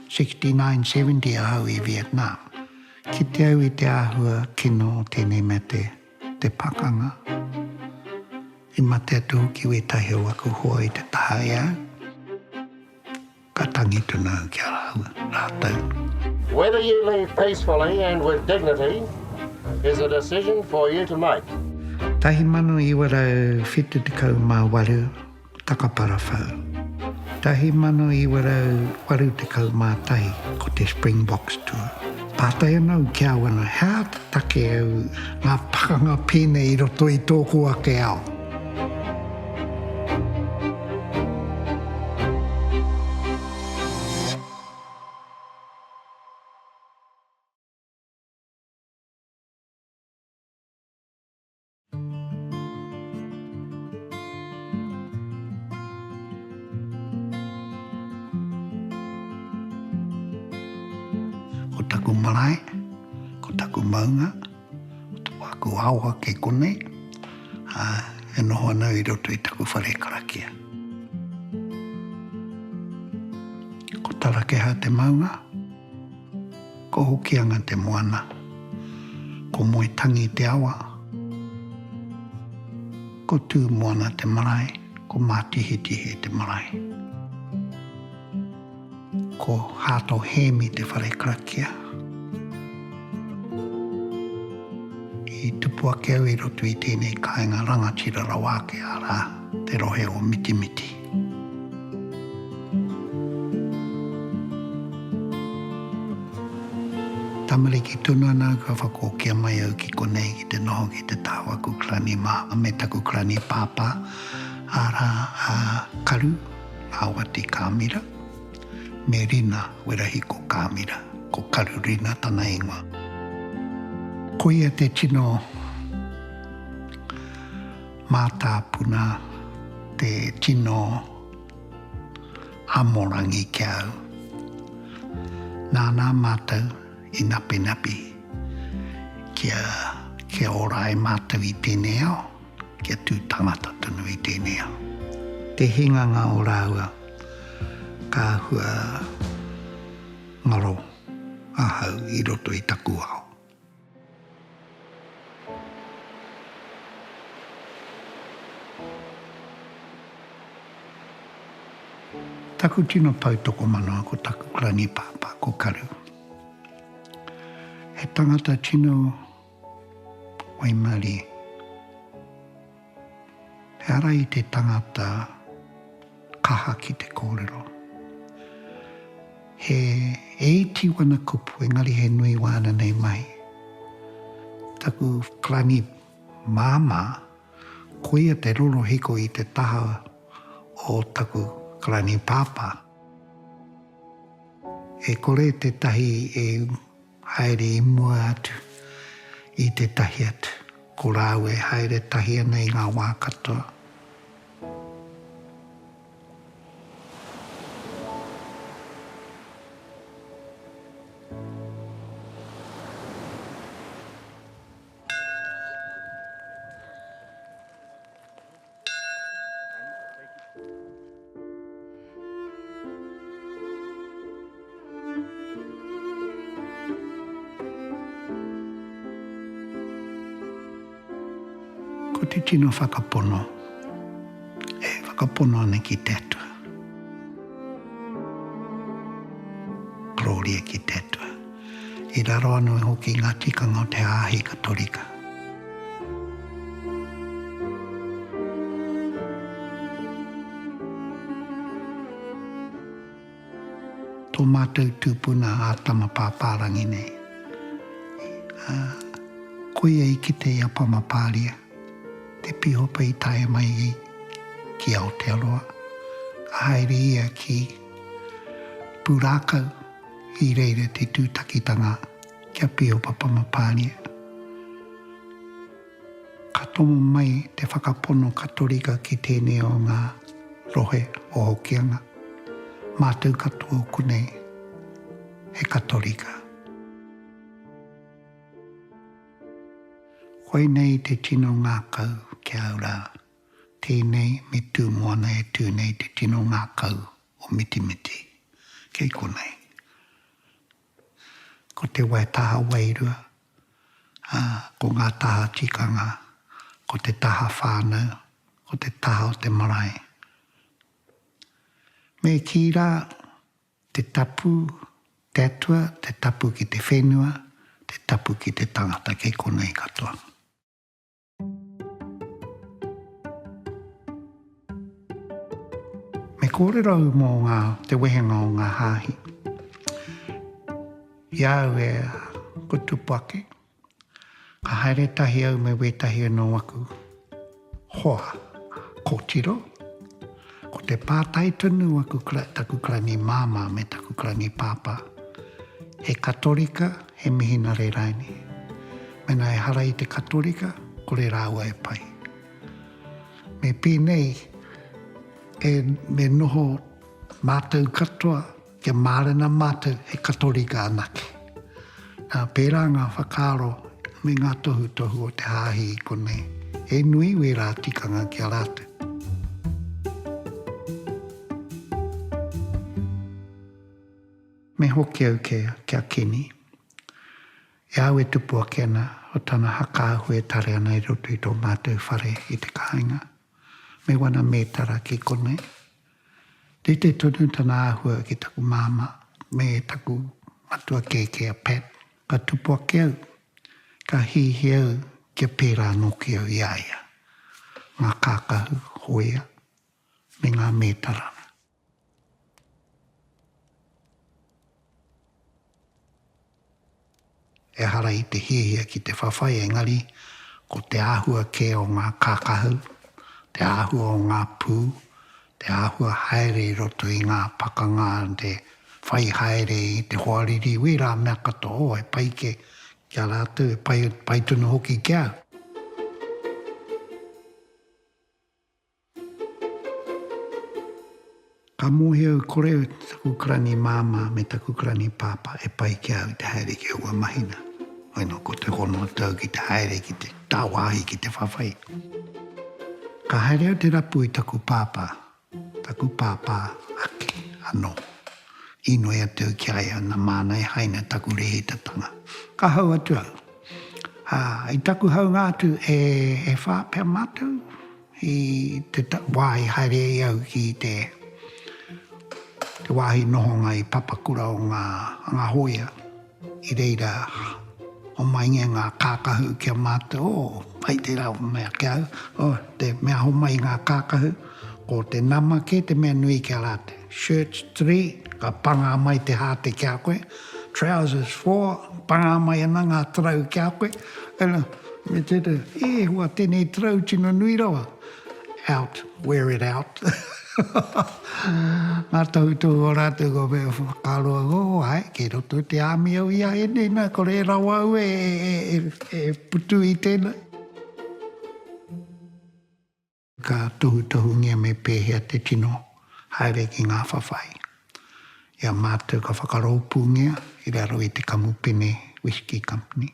69 70 ahau i Vietnam. Kite au i te āhua kino o tēnei mea te, te pakanga. I mate atu hoki wētahi o aku hoa i te taha e au. Ka tangi tonu au ki a rāua, rātou. Whether you leave peacefully and with dignity is a decision for you to make. 1978. Takaparawhau. 1981 ko te Springboks Tour. Pātai ana au ki a wana, he aha te take au ngā pakanga pēnei i roto i tōku ake ao? Ko taku marae, ko taku maunga, ko aku awa kei konei, ā, e noho ana i roto i taku whare karakia. Ko Tarakeha te maunga. Ko Hokianga te moana. Ko Moetangi te awa. Ko Tūmoana te marae. Ko Mātihetihe te marae. Ko Hāto Hēmi te whare karakia. I tupu ake au i roto i tēnei kāinga rangatira rawa ake, arā, te rohe o Mitimiti. Tamariki tonu ana au ka whakookia mai au ki konei ki te noho ki te taha o aku karani māmā me taku karani pāpā arā a Karu Awati Kāmira me Rina Werahiko Kāmira, ko Karu Rina tana ingoa. Koia te tino. Mātāpuna te tino amorangi ki a au. Nānā mātou i napinapi kia, kia ora ai mātou i tēnei ao, kia tū tangata tonu i tēnei ao. Te hinganga o rāua ka hua ngaro ahau i roto i taku ao. Taku tino pou tokomanoa ko taku grangipāpā, ko Karu. He tangata tino waimarie. He ara i te tangata kaha ki te kōrero. He e iti wana kupu engari he nui wāna nei mahi. Taku rangi māmā, koia te rorohiko i te taha o taku rangi pāpā. E kore tētahi e Haere i mua atu i tētahi atu. Ko rāua e haere tahi ana i ngā wā katoa. Ko te tino whakapono, e whakapono ana ki te Atua. Gloria ki te Atua. I raro anō hoki i ngā tikanga o te hāhi Katorika. Tō mātou tūpuna a Tama Pāpārangi nei. Koia i kite i a Pama Pāria, te pīhopa i tae mai i ki Aotearoa, ka haere ia ki Pūrākau, I reira te tūtakitanga kia pio papanga Pānia. Ka tomo mai te whakapono Katorika ki tēnei o ngā rohe o Hokianga. Mātou katoa konei he Katorika. Koinei te tino ngākau ki au rā. Tēnei me Tūmoana e tū nei te tino ngākau o Mitimiti, kei konei. Ko te wai taha wairua, ā, ko ngā taha tikanga, ko te taha whānau, ko te taha o te marae. Me kī rā, te tapu, te atua, te tapu ki te whenua, te tapu ki te tangata, kei konei katoa. Me kōrero au mō ngā, te wehenga o ngā hāhi. I a au e kutupa ake, ka haere tahi au me wētahi o nō aku hoa kōtiro. Ko te pātai tonu aku taku Klangi māmā me taku Klangi pāpā, he Katorika, he Mihinare raini. Mena ehara i te Katorika, kore rāua e pai. Me pēnei, e, me noho mātou katoa Kia mārena mātou he Katorika anake. Nā, pērā ngā whakaaro me ngā tohutohu o te Hāhi i konei, he nui wērā tikanga ki a rātou. Me hoki au kē ki a Kenny. E au e tupu ake ana o tana hakaahua e tare ana i roto i tō mātou whare i te kāinga. Me wana mētara ki konei. Rite tonu tana āhua ki taku māmā me taku matua kēkē a Pat. Ka tupu ake au, ka hīhī au kia pērā nōki au i a ia. Ngā kākahu, hōia, me ngā mētara. Ehara i te hiahia ki te whawhai engari ko te āhua kē o ngā kākahu, te āhua o ngā pū, te āhua haere i roto i ngā pakanga te whai haere i te hoariri wērā mea katoa oh he pai kē ki a rātou he pai tonu hoki ki au. Ka mōhio au kore taku karangi māmā me taku karangi pāpā e pai ki a au te haere ki aua mahina. Hoi nō ko te hono atu au ki te haere ki te tāwāhi ki te whawhai. Ka haere au te rapu i taku pāpā, taku pāpā ake anō. Inoi atu au ki a ia nā māna e haina taku rēhitatanga. Ka hau atu au. Ā, i taku haunga atu e whā pea mātou. I te wā i haere ai au ki te wāhi nohonga i Papakura o ngā hōia, i reira homai nge ngā kākahu ki a mātou, o, hai tērā mea ki a au, o, te mea homai ngā kākahu, ko te nama kē te mea nui ki a rātou. Shirts three, ka pangā mai te hāte ki a koe, Trousers for, pangā mai ana ngā tarau ki a koe. Ela, me te reo, e hua tenei tarau tino nui rawa. Out, wear it out. Ngā tohutohu o rātou kua mea whakaaro au, oh ae, kei roto i te army au i a enei na, kore e rawa au e putu i tenei. Ka tohutohungia me pēhea te tino haere ki ngā whawhai. I a mātou ka whakarōpūngia i raro i te kamupene Whisky Company.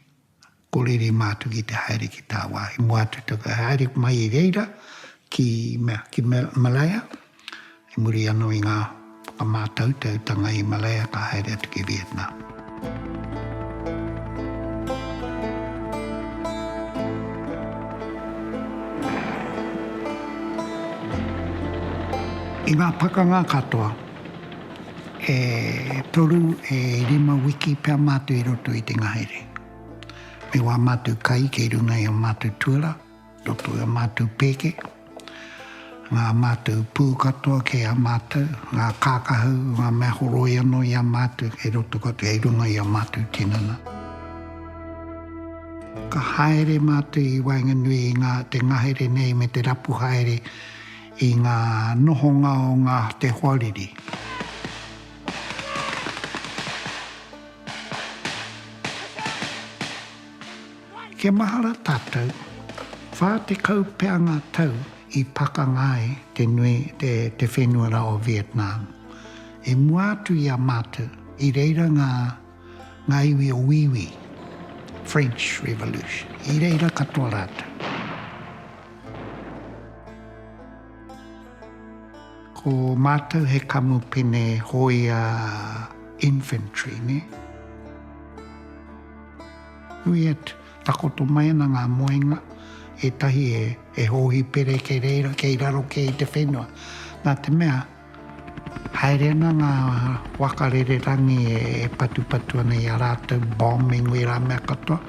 Kōrere mātou ki te haere ki tāwāhi, mua atu te whakahaere mai i reira ki, mea, ki Malaya. I muri anō i ngā whakamātautautanga i Malaya ka haere atu ki Vietnam. I ngā pakanga katoa, e toru, e rima wiki pea mātou i roto i te ngahere. Me wā mātou kai kei runga i ō mātou tuara. Roto i a mātou pēke, ngā mātou pū katoa kei a mātou, ngā kākahu, ngā mea horoi anō i a mātou kei roto katoa, kei runga i a mātou tinana. Ka haere mātou i waenganui i ngā te ngahere nei me te rapu haere i ngā nohonga o ngā te hoariri. Kia mahara tātou, 40 pea ngā tau i pakanga ai te nui te te whenua rā o Vietnam. I mua atu i a mātou, i reira ngā ngā iwi o Wīwī, French Revolution, i reira katoa rātou. Ko mātou he kamupene hōia infantry, nē. Nui atu, takoto mai ana ngā moenga, ētahi e, e hōhi pere kei reira, kei raro kē i te whenua. Nā te mea, haere ana ngā waka rererangi e, e patupatu ana i a rātou, bombing wērā mea katoa.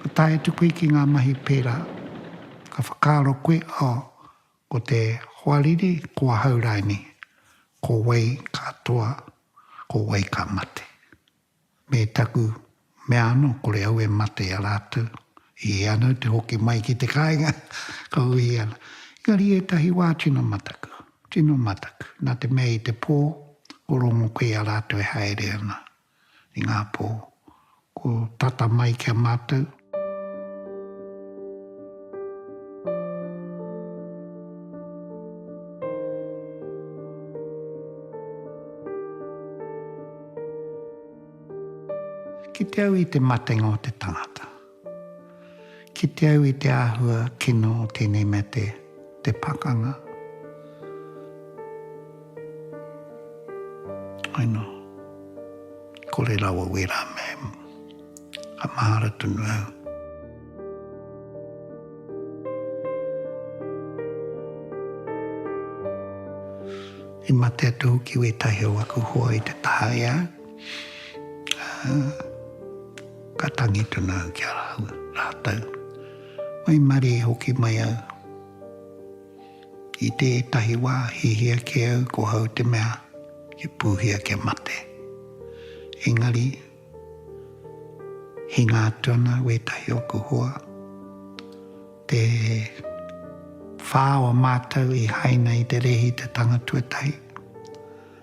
Ka tae atu koe ki ngā mahi pērā, ka whakaaro koe, oh, ko te hoariri, ko ahau rānei, ko wai ka toa, ko wai ka mate. Me taku mea anō, kore au e mate i a rātou, i e anō te hoki mai ki te kāinga, ka uhi ana. Engari ētahi wā tino mataku, tino mataku, nā te mea i te pō, ko Rongo koe i a rātou e haere ana. I ngā pō ko tata mai ki a mātou. Kite au i te matenga o te tangata. Kite au i te āhua kino o tēnei mea te, te pakanga. I know. Kore rawa wērā mea e, ka mahara tonu au. I mate atu hoki wētahi o aku hoa i te taha i a au. Ka tangi tonu au ki a rātou. Waimarie hoki mai au. I tētahi wā, hiahia kē au ko hau te mea i pūhia kia mate. Engari, hinga atu ana wētahi o oku hoa. Te whā o mātou i haina i te rēhi te tanga tuatahi.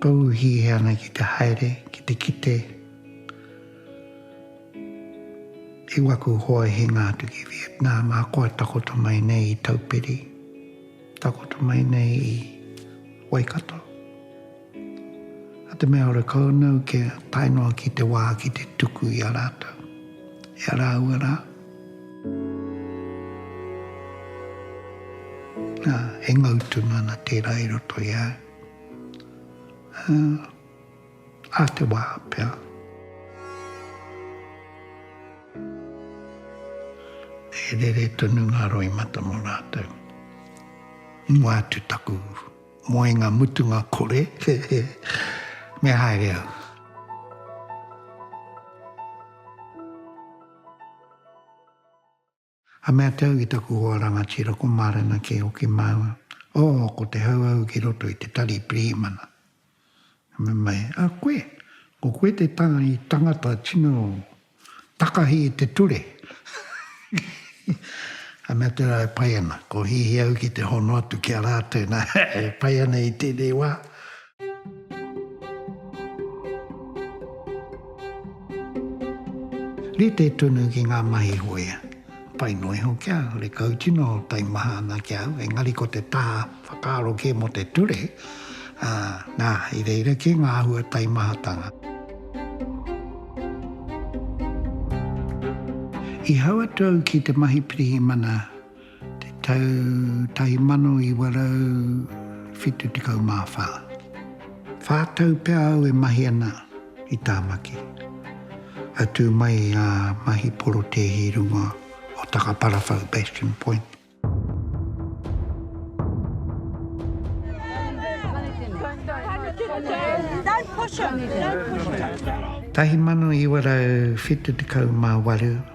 Ka uhi e ana ki te haere, ki te kite i waku hoa hinga atu ki Vietnam, ahakoa takoto mai nei i Taupiri, takoto mai nei i Waikato. A te mea ora kau nau kia tae noa ki te wā ki te tuku i a rātou, i a rāua rā. Ā, e ngau tonu ana tērā i roto i a au. Ā, ā te wā pea. E rere tonu ngā roimata mō rātou. Ingoa atu taku moenga mutunga kore, me haere au. Ka mea te au ki taku hoa rangatira ko Marena kei hoki māua. Oh, ko te Hauhau ki roto i te tari pirihimana. Ka mea mai, a koe, ko koe te tanga i tangata tino takahi i te ture. Ka mea tera e pai ana, ko hihi au ki te hono atu ki a ratou na e pai ana i tenei wa. Rite tonu ki ngā mahi hoea. Pai noa iho kia rekau tino taimaha ana ki a au, engari ko te taha whakaaro kē mō te ture, ā, nā, i reira kē ngā āhua taimahatanga. I hau atu au ki te mahi pirihimana te tau 1974. Whā tau pea au e mahi ana i Tāmaki. I tū mai i ngā mahi porotēhi runga o Takaparawhau, Bastion Point. Tahi mano iwa rau whitu tekau mā waru.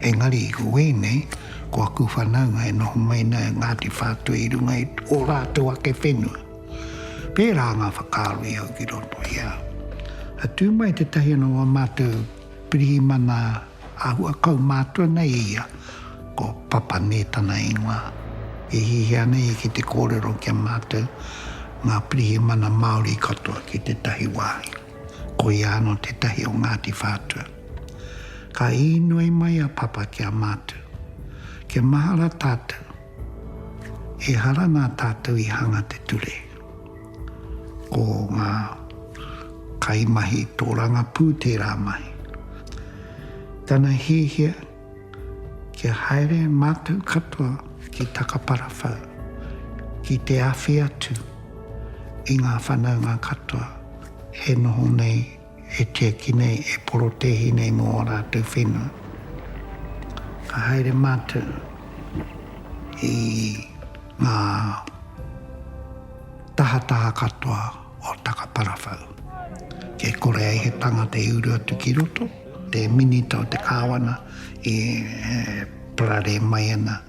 Engari i ko wei nei, ko aku whanaunga e noho mai nei a Ngāti Whātua i runga i ō rātou ake whenua. Pērā ngā whakaaro i au ki roto i a au. Ka tū mai tētahi anō o ā mātou pirihimana āhua kaumātua nei i ia, ko Papa Nē tana ingoa. E hihia ana ia ki te kōrero ki a mātou, ngā pirihimana Māori katoa ki tētahi wāhi. Koia anō tētahi o Ngāti Whātua. Ka īnoi mai a Papa ki a mātou, Kia mahara tātou, ehara nā tātou i hanga te ture. Ko ngā kaimahi tōrangapū tērā mahi. Tana hiahia kia haere mātou katoa ki Takaparawhau ki te awhi atu i ngā whanaunga katoa e noho nei e tiaki nei, e porotēhi nei mō ō rātou whenua. Ka haere mātou i ngā tahataha katoa o Takaparawhau. Kei kore ai he tangata i uru atu ki roto, te minita o te kāwana e pararē mai ana.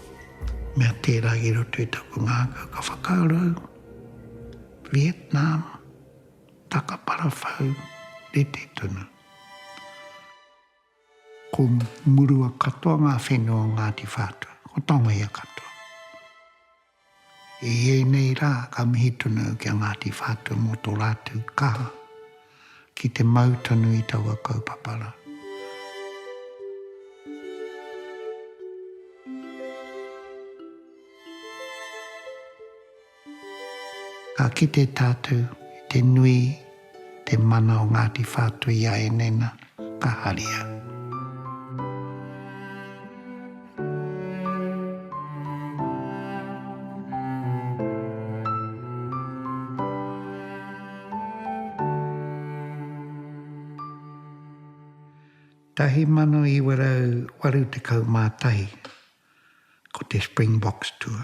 Mea tērā i roto i taku ngākau ka whakaaro au, Vietnam, taka parawhau, rite tonu. Ko murua katoa ngā whenua o Ngāti Whātua, ko Tongaia katoa. I ēnei rā ka mihi tonu au ki a Ngāti Whātua mō tō rātou kaha ki te mau tonu i taua kaupapa rā. Ka kite tātou i te nui te mana o Ngāti Whātuiaenena ka haria. Tahi mano iwa rau waru tekau mā tahi, ko te Springboks Tour.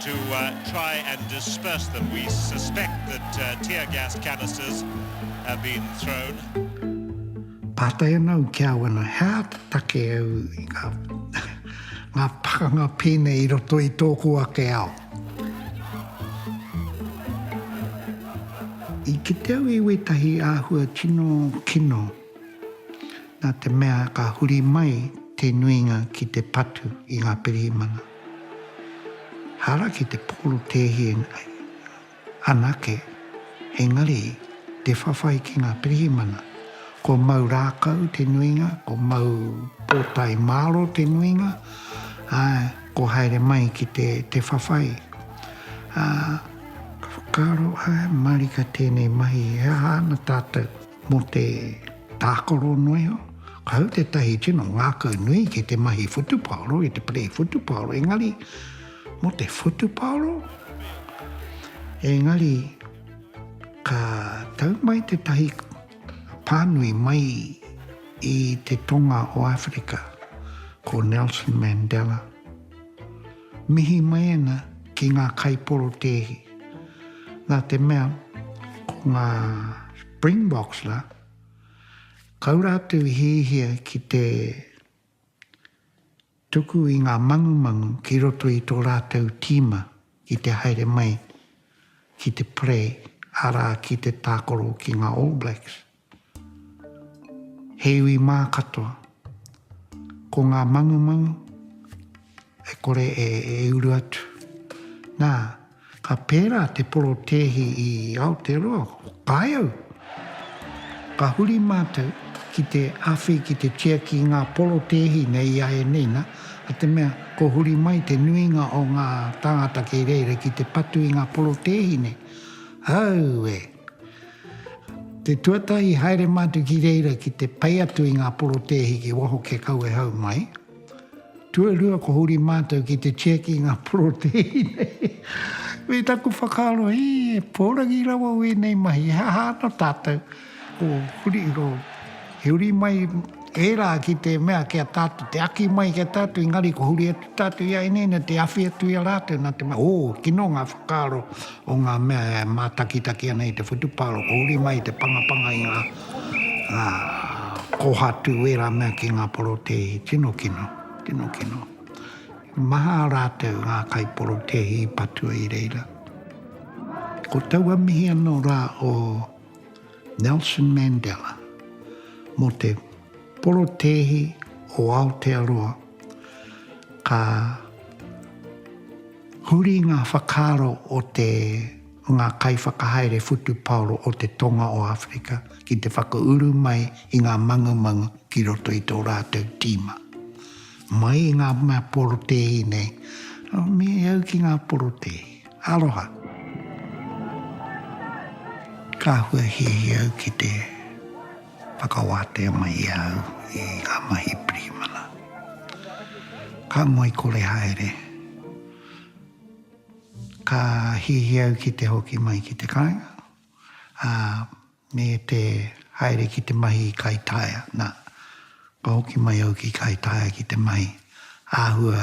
to try and disperse them. We suspect that tear gas canisters have been thrown. Pātai ana au ki a au ana, he aha te take au i ngā, ngā pakanga pēnei i roto i tōku ake ao? I kite au i wētahi āhua tino kino nā te mea ka huri mai te nuinga ki te patu i ngā pirihimana. Haraki te porotēhie nei anake, engari te whawhai ki ngā pirihimana. Ko mau rākau te nuinga, ko mau pōtae māro te nuinga, āe, ko haere mai ki te whawhai. Ka whakaaro, āe, marika tēnei mahi, he aha ana tātou? Mō te tākaro noa, ka hau tētahi tino ngākau nui ki te mahi whutupaoro, ki te parei whutupaoro, engari mō te whutupaoro, engari ka tau mai tētahi pānui mai i te tonga o Āwherika ko Nelson Mandela. Mihi mēnā ki ngā kaiporotēhi. Nā te mea, ko ngā Springboks rā, kau rātou i hiahia ki te tuku i ngā mangumangu ki roto i tō rātou tīma ki te haere mai ki te parei, arā, ki te tākaro ki ngā All Blacks. He iwi mā katoa. Ko ngā mangumangu e kore e uru atu. Nā, ka pērā te porotēhi i Aotearoa, ko Kāiau. Ka huri mātou ki te awhi, ki te tiaki i ngā porotēhi nei i a ēnei nā, a te mea ko huri mai te nuinga o ngā tāngata kei reira ki te patu i ngā porotēhi nei. Aue! Te tuatahi, haere mātou ki reira ki te pai atu i ngā porotēhi ki waho kia kau e hau mai. Tuarua, ko huri mātou ki te check i ngā porotēhi nei. Me taku whakaaro, he pōrangi rawa wēnei mahi, he aha ana tātou? Ko huri, ko. I huri mai ērā ki te mea ki a tātou, te aki mai ki a tātou, engari kua huri atu tātou i a Ineina te awhi atu i a rātou nā te mea, ō, kino ngā whakaaro o ngā mea e mātakitaki ana i te whutupāro, kua huri mai te pangapanga i ngā kōhatu, ērā mea ki ngā porotēhi. Tino kino, tino kino. He maha rātou ngā kaiporotēhi i patua i reira. Ko taua mihi anō rā o. Nelson Mandela, mō te porotēhi o Aotearoa, ka huri ngā whakaaro o te ngā kaiwhakahaere whutupaoro o te Tonga o Āwherika ki te whakauru mai i ngā mangumangu ki roto i tō rātou tīma. Mai i ngā mea porotēhi nei, me au ki ngā porotēhi. Aroha. Ka huahiahia au ki te whakawātea mai i a au i ngā mahi pirihimana. Ka ngoikore haere. Ka hiahia au ki te hoki mai ki te kāinga, ā, me te haere ki te mahi i Kaitaia. Nā, ka hoki mai au ki Kaitaia ki te mahi āhua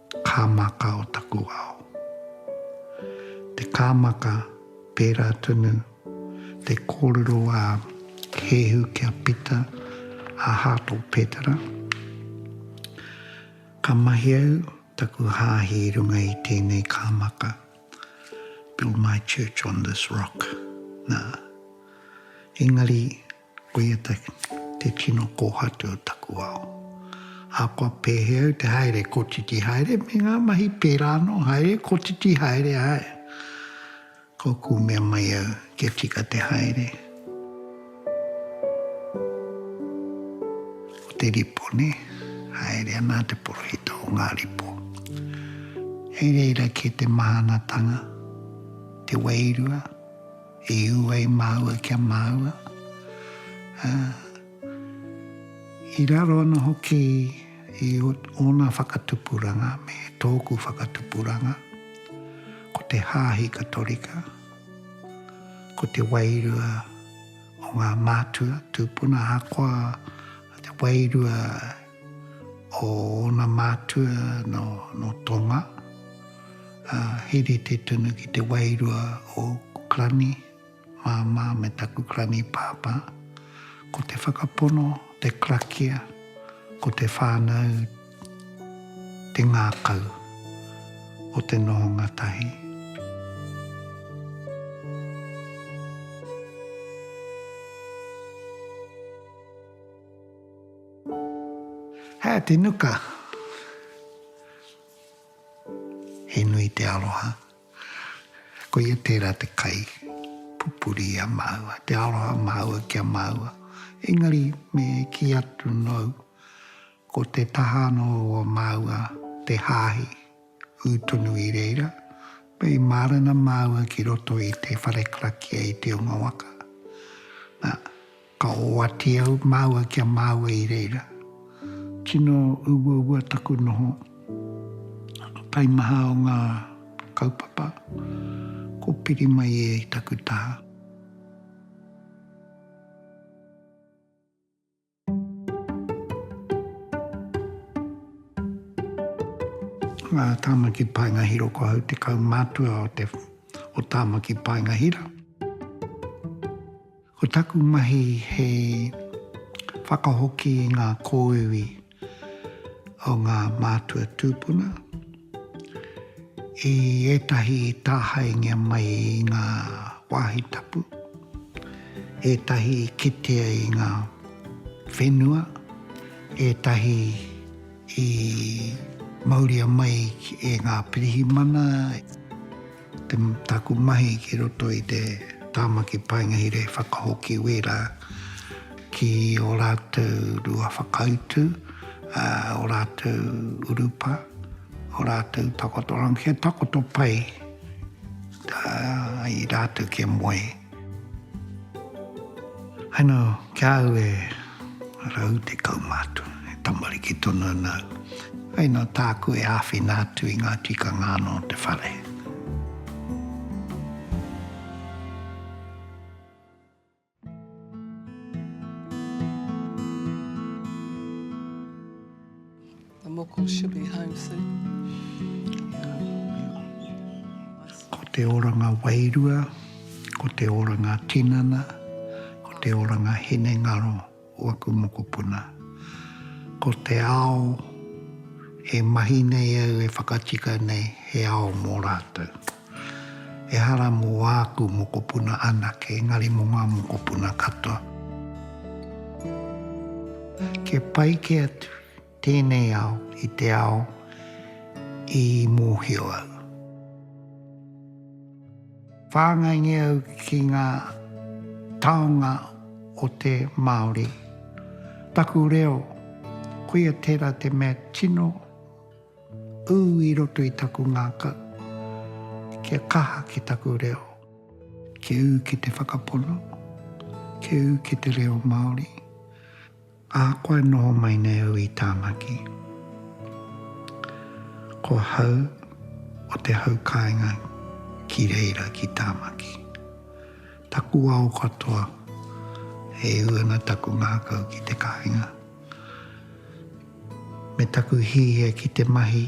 Kāmaka o taku ao. Te kāmaka, pērā tonu te kōrero a Keehu kia pita a Heart o Petera. Ka mahi au taku hāhi i runga i tēnei kāmaka, build my church on this rock, nā. Engari. Koia te tino kōhatu o taku ao. Ahakoa pēhea au te haere, kotiti haere me ngā mahi pērā anō, haere, kotiti haere ae. Ka ōku mea mai au kia tika te haere. Ko te ripo, nē, haere ana te porohita o ngā ripo. Hei reira kē te mahanatanga, te wairua. I ua i māua kia māua, ā, i raro ana hoki i ōna whakatupuranga me tōku whakatupuranga, ko te hāhi Katorika, ko te wairua o ngā mātua tūpuna ahakoa te wairua o ōna mātua nō Tonga, ā, he rite tonu ki te wairua o ōku Krani māmā me taku Krani pāpā, ko te whakapono, te krakia, ko te whānau te ngākau o te nohonga tahi. Hea te nuka? He nui te aroha. Koia tērā te kai pupuri i a māua, te aroha māua ki a māua. Engari me kī atu nōu, ko te taha anō o māua te hāhi, ū tonu i reira, me i mārena māua ki roto i te whare karakia i te unga waka. Nā. Ka oati au māua ki a māua i reira. Tino uaua taku noho. Taimaha o ngā kaupapa, ko piri mai e i taku taha. Ngā Tāmaki Paenga Hiro Ko au te kaumātua o te o Tāmaki Paenga Hira. Ko taku mahi he whakahoki i ngā kōiwi o ngā mātua tūpuna i ētahi i tāhaengia mai i ngā wāhi tapu, ētahi i kitea i ngā whenua, ētahi i mauria mai e ngā pirihimana. Taku mahi ki roto i te Tāmaki Paenga Hira i whakahoki wērā ki ō rātou rua whakautu, ō rātou urupa, ō rātou takotoranga kia takoto pai ai rātou kia moe. I know, ki a au e rau tekau ma atu, e tamariki tonu ana au. I know, tāku e āwhina atu i ngā tikanga anō o te whare. The moko should be home soon. Ko te oranga wairua, ko te oranga tinana, ko te oranga hinengaro o aku mokopuna. Ko te ao e mahi nei au e whakatika nei he ao mō rātou. Ehara mō āku mokopuna anake, engari mō ngā mokopuna katoa. Kia pai kē atu. Tēnei ao i te ao i mōhio au. Whāngaingia au ki ngā taonga o te Māori. Taku reo, koia tērā te mea tino ū i roto i taku ngākau, kia kaha ki taku reo. Kia ū ki te whakapono, kia ū ki te reo Māori. A koa e noho mai nei au i Tāmaki. Ko hau o te hau kāinga ki reira ki Tāmaki. Taku ao katoa e ū ana taku ngākau ki te kāinga. Me taku hīhia ki te mahi.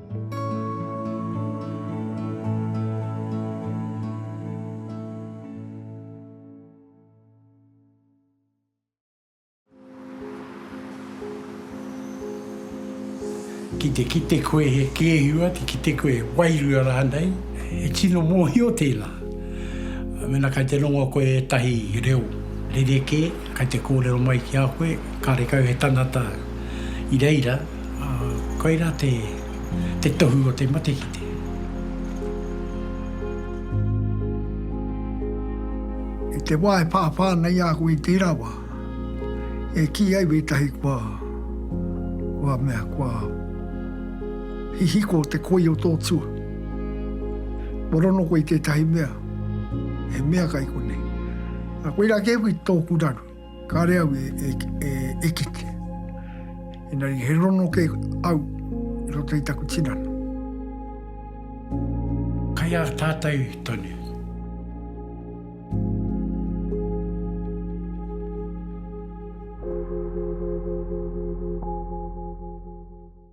Ki te kite koe he kēhi ua, ki te kite koe he wairua rānei, he tino mōhio tēnā. Mēnā kei te rongo koe ētahi reo rerekē, kei te kōrero mai ki a koe, kāre kau he tangata i reira, Koirā te te tohu o te matekite. I te wā e whāwhā ana i a koe i tērā wā, e kī ai wētahi kua, kua mea, kua hihiko te koi o tō tua. Kua rono koe i tētahi mea, he mea kai konei. Koirā kē hoki tōku raru. Kāre au e, e, e, e kite. Engari he rono ke au i roto i taku tinana. Kai a tātou tonu.